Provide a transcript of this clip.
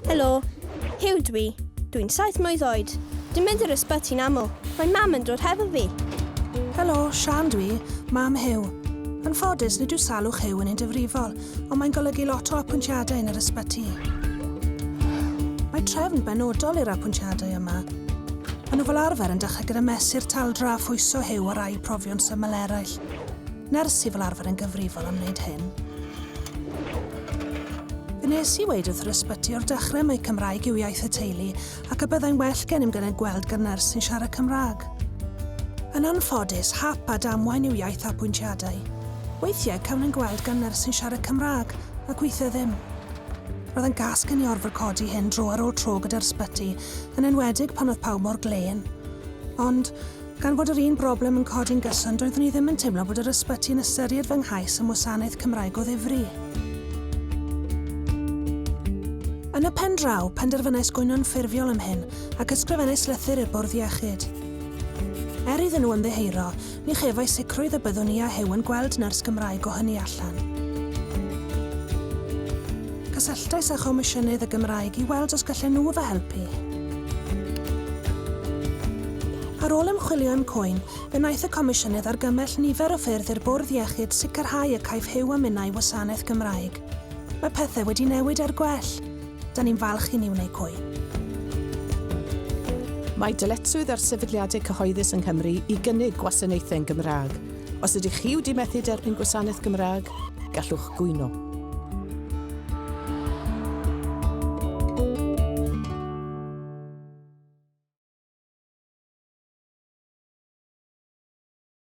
Helo, Huw dw i. Dw i'n saith mlwydd oed. Dwi'n mynd i'r ysbyty'n aml. Mae mam yn dod hefo fi. Helo, Sian dw i, mam Huw. Yn ffodus, nid yw salwch Huw yn un difrifol, ond mae'n golygu lot o apwyntiadau yn yr ysbyty. Mae trefn benodol i'r apwyntiadau yma. Maen nhw fel arfer yn dechrau gyda mesur taldra a phwyso Huw o rai profion syml eraill. Nyrs sydd fel arfer yn gyfrifol am wneud hyn. Fe wnes i weud wrth yr ysbyty o'r dechrau mai Cymraeg yw iaith y teulu ac y byddai'n well gennym gael ein gweld gan nyrs sy'n siarad Cymraeg. Yn anffodus, hap a damwain yw iaith apwyntiadau. Weithiau cawn ein gweld gan nyrs sy'n siarad Cymraeg, ac weithiau ddim. Roedd e'n gas gen i orfod codi hyn dro ar ôl tro gyda'r ysbyty, yn enwedig pan oedd pawb mor glên. Ond, Gan fod yr un broblem yn codi'n gyson, doeddwn i ddim yn teimlo bod yr ysbyty yn ystyried fy nghais am wasanaeth Cymraeg o ddifri. Yn y pen draw, penderfynais gwyno'n ffurfiol am hyn ac ysgrifennais lythyr i'r bwrdd iechyd. Er iddyn nhw ymddiheuro, ni chefais sicrwydd y byddwn i a Huw yn gweld nyrs Gymraeg o hynny allan. Cysylltais â Chomisiynydd y Gymraeg i weld os gallen nhw fy helpu. Ar ôl ymchwilio i'm cŵyn, fe wnaeth y Comisiynydd argymell nifer o ffyrdd i'r Bwrdd Iechyd sicrhau y caiff Huw a minnau wasanaeth Gymraeg. Mae pethau wedi newid er gwell. Da ni'n falch i Niw neu Cŵyn. Mae dyletswydd ar sefydliadau cyhoeddus yng Nghymru i gynnig gwasanaethau'n Gymraeg. Os ydych chi wedi methu derbyn gwasanaeth Gymraeg, gallwch gwyno.